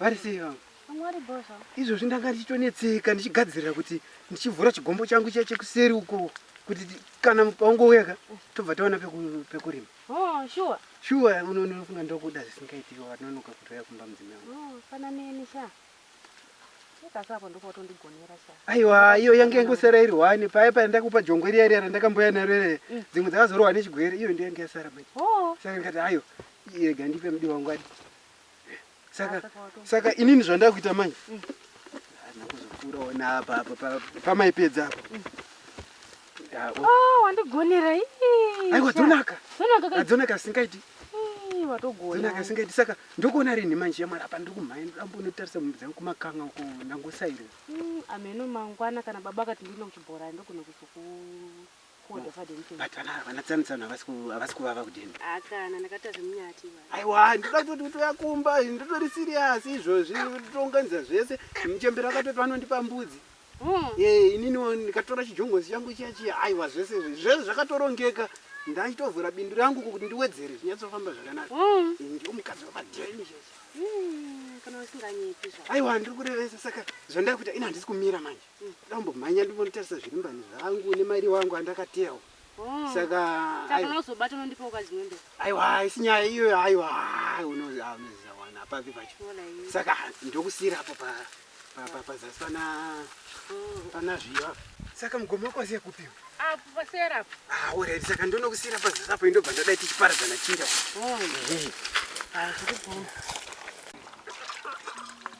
Vari sei vangu? Izvozvi ndanga ndichitonetseka ndichigadzirira kuti ndichivhura chigombo changu chiya chekuseri uko kuti kana paungouya ka tobva taona pekurima. Oh, shuwa. Shuwa unofunga ndokuda zvisingaitiki wanonoka kutoya kumba mudzimai wangu. Oh, fana neni sha. Aiwa, iyo yange yangosara iri hwani paya paya ndakupa jongwe riya riya randakamboya naro ere mm. dzimwe dzakazorohwa nechigwere iyo ndiyo yange yasara manje. Oh. Saka ndikati ayo irega ndipe mudi wangu adi. saka saka inini zvandakuita mai mm. hazvina kuzokurawo naapa apa pamaipedza apa mm. oh, wandigonera aiwa dzonaka adzonaka asingaiti dzonaka asingaiti saka ndokuona ri nhima njiya mwari apa ndiri kumhai ndambonotarisa mumbi dzangu kumakanga uko ndangosairira mm, ameno mangwana kana baba akati ndine kuchibhorani ndogona kuzoku but vana havana tsano tsano havasi kuvava kudini hakana ndakatazve munyati aiwa ndoda kutoti kutoya kumba ndotori siriyasi izvozvi tounganidza zvese muchembero akatoti vanondipa mbudzi hmm. eh, ininiwo ndikatora chijongozi changu chiya chiya aiwa zvese izvi zvese zvakatorongeka ndachitovhura bindu rangu kuti ndiwedzere zvinyatsofamba zvakanaka hmm. eh, ndiwo mukadzi wamadheni hmm, aiwa ndiri kurevesa saka zvandai kuita ini handisi kumira manje Mm, Dombo mhanya ndimonitarisa zviri mbani zvangu nemari wangu andakatewa. Oh. Saka Saka aiwa. unozobata unondipa ukazinondo. Aiwa isinyaya iyoyo aiwa ah, unozi ah, unozi zawana papi pacho. Wala iyi. Saka ndokusira apo pa pa pa pazasi pana Oh. pana zviva. Saka mugomo wako wasiya kupi? Apo pasera apo. Ah, alright saka ndonokusira pazasi apo indobva ndodai tichiparadzana chinda. Oh. Eh. Ah,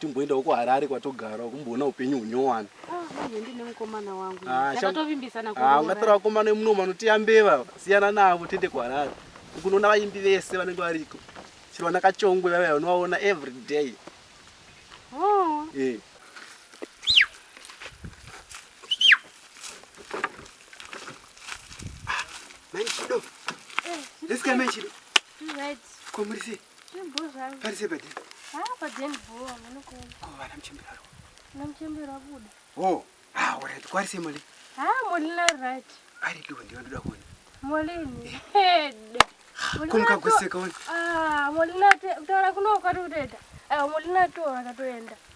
Timboendawo kuHarare kwatogara kumboona upenyu hunyowani. Ah, manje ndine mukomana wangu. Ah, sham- Takatovimbisana Ah, kuroora. ungatora vakomana vemuno vanotiya mbeva siyana navo tiende kuharare ukunoona vaimbi vese vanenge variko chero vana kachongwe vavaya vanovaona every day Oh, Eh. Manchido. This guy Manchido. right. Komurisi. Parise padeni. Ah, padeni bho, amene ko. Ko vana mchembera ro. Na mchembera buda. Oh, ah, all right. Kwari se moli. Ah, moli na right. Ari tu ndiyo ndoda kuona. Moli ni. Head. Kumka kuseka wona. Ah, moli na te, tora kuno kwari uteta. Ah, moli na tora katoenda.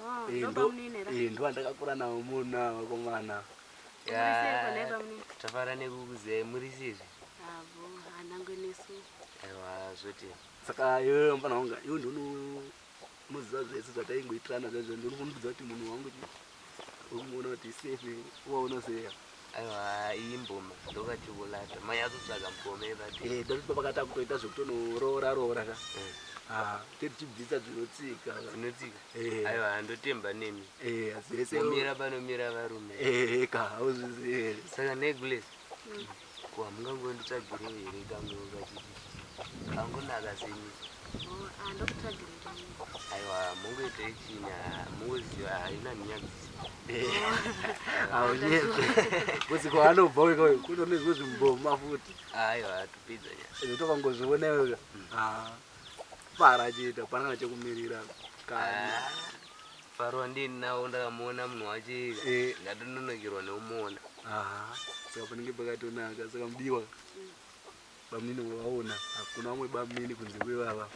Oh, Eh, ndo ndo- bamunini ra. eh, ndovandakakura navo muna vakomana Murisei kona bamunini. tafara nekukuziyai muri sizvi Avo, hanangwe nesu. aiwa zvoti saka iwe mfana wanga iwe ndinomuziva zvese zvataingoitirana zvaizvo ndinokumbudza kuti munhu wangu chi- ukumuona kuti safe waona seya aiwa iyi mboma ndokati kulata mai azotsvaga mukome vati Eh, dai kuti baba kati akutoita zvekutonoroora roora ka Eh. Ah, tichibvisa dzinotsika dzinotsika Eh. aiwa handotemba nemi Eh, zvese momira panomira varume Eh, ka hauzvizivi here saka necklace ko hamungangonditsvagirei here kangu kachiti kangonaka semi Oh, ah, ndokutsvagira aiwa mungoitei chini mungoziva haina nyadzisi haunyepe kuti kwaanobva uyu kutonezwe zvimboma futi aiwa tupidza nyaya tokangozviona iwe fara achiita panana chekumirira kana faro andini nawo ndakamuona munhu wacho eh. ndatononokerwa neumuona saka panenge pakatonaka saka mudiwa Bamunini wavaona hakuna vamwe bamunini kunze kwevava.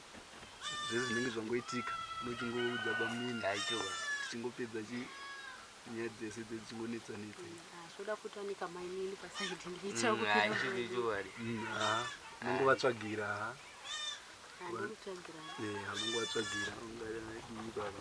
Zvese zvinenge zvangoitika unochingoudza bamunini haichova tichingopedza chi nyaya dzese dze dzichingonetsa netsa zvoda kuti ane kamainini pasaidi ndiita mm, kuichoari mm, unongovatsvagira unongovatsvagira ungadii baba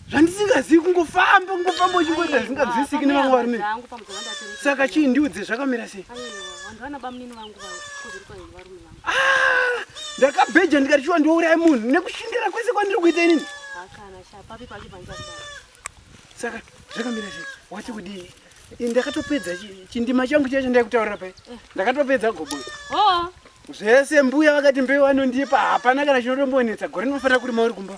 zvandisingazivi kungofamba kungofamba uchingoita zvisinganzwisiki nevamwe varume saka chii ndiudze zvakamira sei ah, ndakabheja ndikati shuwa ndiouraya munhu nekushindira kwese kwandiri kuita inini saka zvakamira sei wati kudii ndakatopedza chindima changu chacho ndaikutaurira pai eh. ndakatopedza gobo oh. zvese mbuya vakati mbeu anondipa hapana kana chinotombonetsa gore ndinofanira kuri mauri kumba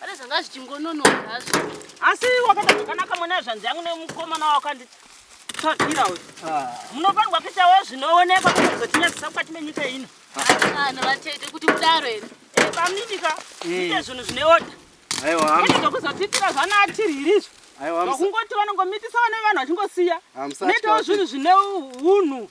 pane zvanga zvichingononoka hazvo asi wakaita zvakanaka mwana yezvanzi yangu nemukomana wakanditsvagira uyu ah. munofanirwa kuitawo zvinoonekwa kuti zvotinyadzisa mukati menyika ino vanhu vatete kuti kudaro here eh, paminika eh. ite zvinhu zvine oda aiwaokuzotitira zvana atiririzvo vakungoti vanongomitisa vane vanhu vachingosiya netawo zvinhu zvine unhu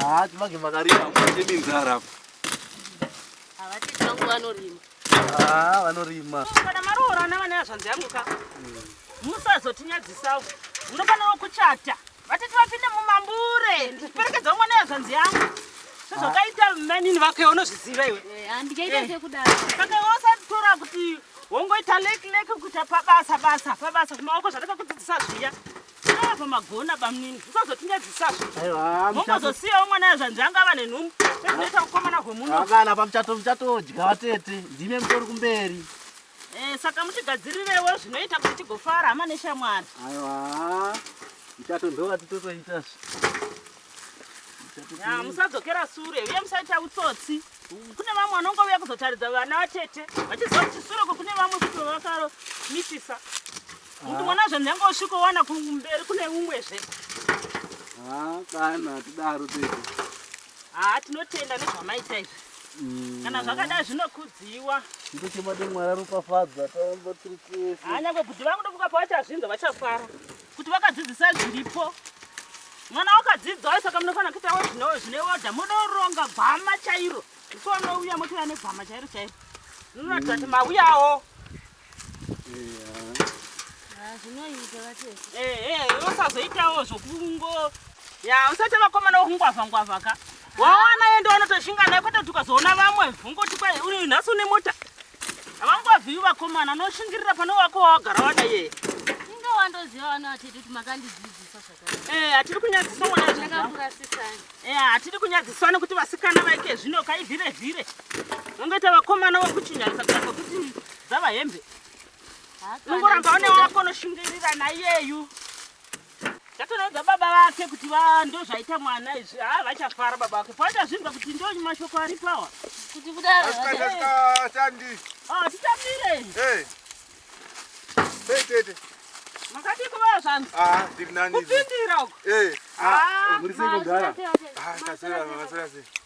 Ah, timange makarima kutemi nzara apa. Havati tangu vanorima. Ah, vanorima. Kana maroorana vane hazvanzi yangu ka. Hmm. Musazotinyadzisavo. Munofanira kuchata. Vatiti vapinde mumambure. Ndiperekedza umwe nehazvanzi yangu. Sezvakaita ah. mainini vake unozviziva iwe. Eh, handikaita eh. sekudaro. Saka iwe usatora kuti wongoita leki leki kuita pabasa basa pabasa kumaoko zvandakakudzidzisa zviya. Apa magona bamnini usazotingadzisazvo. Aiwa. Mongozosiyawo mwana yazvanzi anga ava nenhumbu. Zvinoita kukomana kwemuno. Hapana pamuchato muchatodya vatete. Ndime mutori kumberi. Eh saka mutigadzirirewo zvinoita kuti tigofara hama neshamwari. Aiwa. Muchato ndova titotoita zve. Ya musadzokera sure uye musaita utsotsi. kune vamwe vanongouya kuzotaridza vana vatete vachiziva kuti sure kune vamwe kuti vakamisisa kuti mwana zve nyange usvikowana kumberi kune umwezve ah, kana tidaro tete haa ah, tinotenda nezvamaita izvi mm. kana zvakadai zvinokudziwa ndochemade mwari aropafadza taomba tiri tese hanyangwe ah, kuti vangude kukapa vachazvinza vachafara kuti vakadzidzisa zviripo mwana wakadzidzwa saka munofanira kuitawo zvino zvine oda munoronga gwama chairo so unouya motouya negwama chairo chairo munoratidza kuti mauyawo ehe usazoitawo zvokungo ya usati vakomana wokungwavha ngwavha ka wawana yende wanotoshinga naye kwete kuti ukazoona vamwe vongoti kwai uyu nhasi une mota havangovazivi vakomana unoshingirira pane wako wawagara wada yeye inga wandoziva vano hatidi kuti makandidzidzisa zvakare eh, hatidi kunyadziswa mwanaakurasisani eh, hatidi kunyadziswa nekuti vasikana vaike zvino kai vhire vhire vangaita vakomana vokuchinyarisa kako kuti dzava hembe ungoramba une wako unoshingirira nayeyu Tatoraudza baba vake kuti va ndozvaita mwana izvi haa vachafara baba vake pavatazvinzwa kuti ndo mashoko aripo awa kuti kudaro asikatandi ah, titamire tete makadii kuvaa zvanzi ah, kupindira uko eh, ah, ah,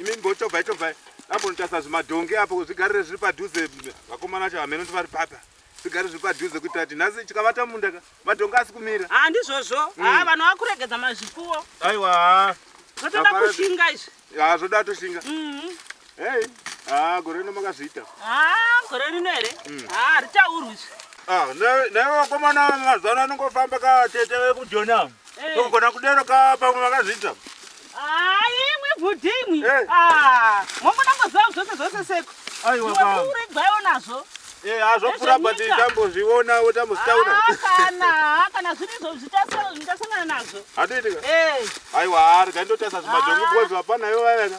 Imi mbotobva itobva ambonotasa zvimadhongi apo zvigarire zviri padhuze vakomana vacho hameno ndivari papa zvigare zviri padhuze kuitira kuti nhasi chikavata munda ka madhongi asi kumira ha ndizvozvo ha mm. vanhu vakuregedza mazvipfuwo aiwa ha zvotoda kushinga izvi ha zvoda toshinga mm-hmm. hei ha gore rino makazviita ha gore rino here mm. ha haritaurwi izvi ah, naiwe vakomana mazano anongofamba katete vekujoni avo Eh. Togona kudero ka pamwe vakazviita. Ah, imwe bhudhi imwe. Eh. Ah, mongo nangoziva zvose zvose seko. Aiwa baba. Iwe kuregwayo nazvo. Eh, hazvokura but tambozviona wotambozitaura. Ah, kana, kana zviri izvo zvitasangana nazvo. Hatiitika. Eh. Aiwa, arga ndotasa zvimadhongi ah. because hapana ivo vayaka.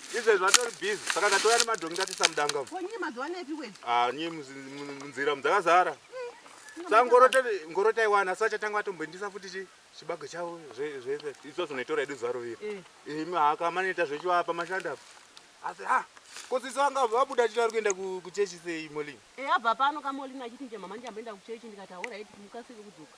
izvezvi vatori busy saka ndatoya nemadhongi ndatisa mudanga ah, nyii munzira mudzakazara mm, sa ngoro taiwana asi vachatanga vatomboindisa futi chi chibago chavo zvese iso zvinoitora edu zuva rovira eh. imi haka manoita zvechiwapa mashanda asi ha kosisi vanga vabuda chiti vari kuenda kuchechi sei molin eh, abva pano kamolin achiti nje mama ndiyamboenda kuchechi ndikati hauraiti mukasike kudzoka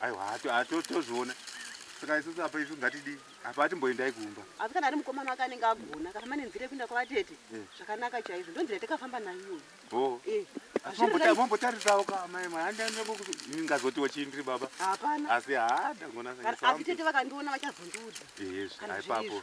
aiwa tozviona saka isusu apa isu ngatidii apa atimboendai kumba asi kana ari mukomana wake anenge agona akafamba nenzira yekuenda kwavatete eh. zvakanaka chaizvo ndonzira yatakafamba nayo oh. eh. mombotarisawo kamaimaaingazotiwo chii ndiri baba hapana asi haa ndangonaaasi tete vakandiona vachazondiudza eh, aipapo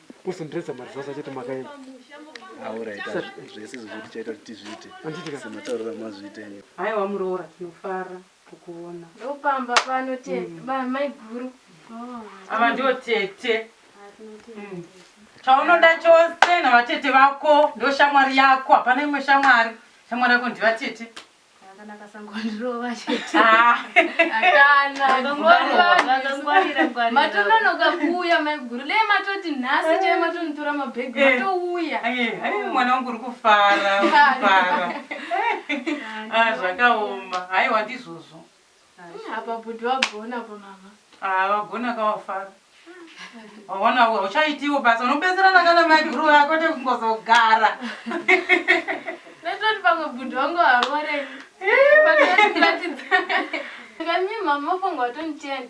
kusundiredza mari zvasa chete makaenda auraita zvese zvokuti chaita kuti tizviite semataurira mazviite nyo haiwa muroora tinofara kukuona ndopamba pano tete mm. maiguru oh. ava ndiwo tete mm. chaunoda chose navatete vako ndo shamwari yako hapana imwe shamwari shamwari yako ndivatete Akanaka sangondirova chete. Ah. Matononoka kuuya maiguru le matoti nhasi chai matonitora mabhegi eh. matouya. Eh, mwana wangu uri kufara, kufara. Ah, zvakaoma. Haiwa ndizvozvo. Hmm, apa bhudhi vagona apa mama. Ah, vagona kawafara. Waona huwa uchaitiwo basa unobetserana kana mai guru vako tekungozogara. Ndatoti pamwe bhudhi vangu harore. Vatoti kuratidza. Kanyi mama mafanga watoni cheni.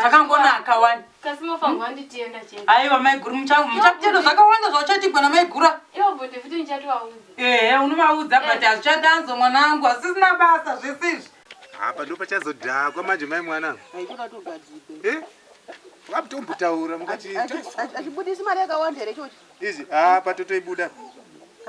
zvakangonaka wani kasi mofanirwa anditienda chete aiwa maiguru muchakutenda zvakawanda zvauchaitigwa namaigura ivo bhuti futi ndichatovaudza ehe unovaudza but hazvichadanzo mwana wangu hazisina basa zvese izvi apa ndo pachazodhakwa manje mai mwana aitoratogadzirwa eh? vakutombotaura mukati achibudisi mari yakawanda here chochi Izvi ah patotoibuda.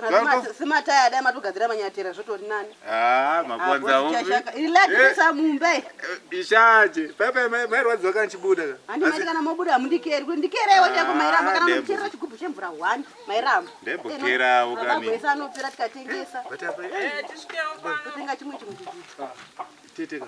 Kana sima taya dai matogadzira manyatera zvotori nani. Ah makonza hopi. Relax eh. sa mumbe. Eh, ishaje. Pepe mai rwadziwa kana chibuda. Handi mai kana mobuda mundikeri kuti ndikere iwe chako mai ramba kana muchira chigubhu chemvura 1 mai ramba. Ndembo eh, kera ukani. Baba boisa anopera tikatengesa. Bata pa. Eh tisikewo pa. Kutenga chimwe chimwe chigubhu. Ah, Teteka.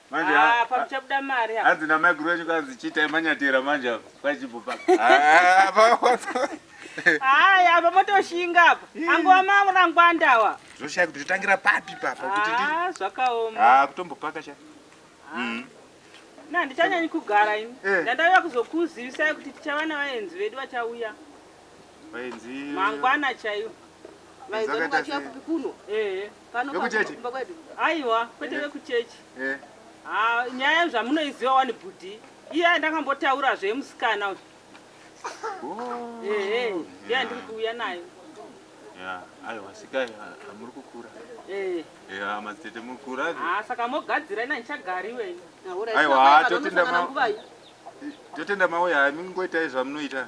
manje ah, apa muchabuda mari apa hanzi namai guru wacho kanzi chiitai manyatera manje apa kwachibhopa hayi apa motoshinga apa angova mamurangwandawa zvoshaya kuti zvotangira papi papa kuti ah, zvakaoma ah, kutombopaka sha mm. na ndichanyanyi kugara ini eh. ndandauya kuzokuzivisai kuti tichava navaenzi vedu vachauya Vainzi mangwana chaiyo. Vaizoti kwachiya kupi kuno? Eh. Pano kuchechi. Aiwa, kwete vekuchechi. Eh. Ah, nyaya zvamunoiziva wani bhudhi. Iya ndakambotaura zve musikana uyu. Oh. Eh, eh. Ndiya ndiri kuuya nayo. Yeah, aiwa sikai amuri ah, kukura. Eh. Yeah, madzitete muri kukura. Ah, saka mogadzira ina ndichagari iwe. Aiwa, totenda ma. Totenda mauya, mingoitai zvamunoita.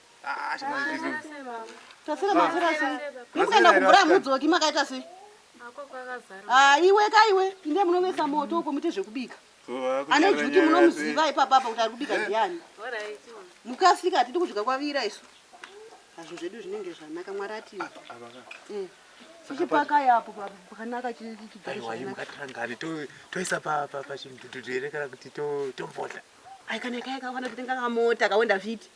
tasira masira sei mukaenda kubura mudzoki makaita sei ah, iwe ka iwe pinde munovesa moto uko muite zvekubika ane juti munomuziva ipapapa kuti ari kubika ndiani mukasika hatidi kudya kwavira isu hazvo zvedu zvinenge zvanaka mwari atiwe eh. chichipakayapo pakanaka chichigaaiwaimukatirangani toisa pachimudhudhudhu here kana kuti tombodla aikana kaikawana kuti ndingakamota kawenda fiti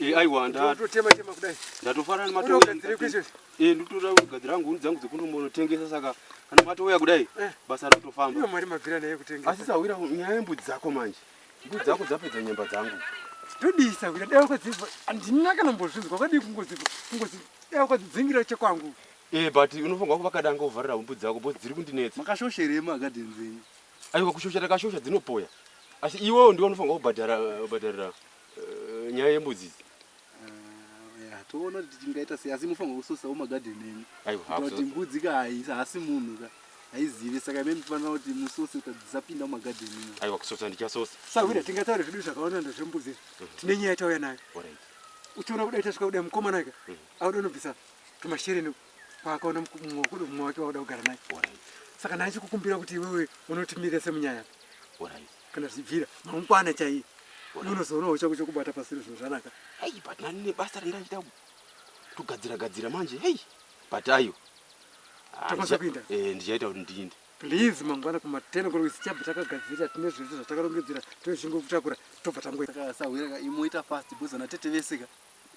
Eh, aiwa ndatotema tema kudai. Ndatofara nemato. Eh, ndotora kugadzira hangu huni dzangu dzekunomonotengesa saka kana matouya kudai eh. basa ratofamba. Iyo mari mabvira naye kutengesa. Asi sahwira nyaya yembudzi dzako manje. Mbudzi dzako dzapedza nyemba dzangu. Ndodisa kuda dai wakadziva handina kana mbozvinzwa kwadii kungoziva kungoziva dai wakadzidzingira chekwangu. Eh, but unofanirwa kuvaka danga uvharira humbu dzako bo dziri kundinetsa. Makashosherei magadheni dzenyu? Aiwa kushosha takashosha dzinopoya. Asi iwewo ndiwe unofanirwa kubhadhara kubhadharira. Eh, nyaya yembudzi idzi Ah, toona kuti tichingaita sei asi mufanirwa kusosawo magadheni enyu kuita kuti mbudzi ka haasi munhu ka haizive saka ime mufanira kuti musose kuita kuti dzisapinda mumagadheni imo aiwa kusosa ndichasosa sahwira tingataure zvedu zvakawanda ndozvembudzi izvi mhm. tine nyaya yatauya nayo uchiona kuda itasvika kuda mukomana ika mhm. auda unobvisa tumashereni kwaakaona mumwe kuda mumwe wake wauda kugara naye saka naye chikukumbira kuti iwewe unotimire semunyaya kana zvichibvira mangwana chaiye unozoonawo chako chokubata pasiro zvinhu zvanaka hei but nani nebasa randaiita togadzira gadzira manje hei but ayo tokwanisa kuinda eh, ndichaita kuti ndiinde please mangwana kumateno kuri zichabva takagadzirira tine zvese zvatakarongedzera tozvingo kutakura tobva tangoasahwira imoita fast because ana tete vese ka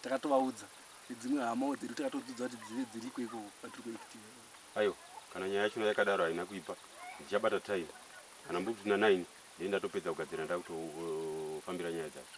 takatovaudza dzimwe hamawo dzedu takatodzidza kuti dzive dziriko ikoko patiri kuitii ayo kana nyaya yacho yakadaro haina kuipa ndichabata time kana mbudzi dzina 9 ndini ndatopedza kugadzira ndakutofambira nyaya dzacho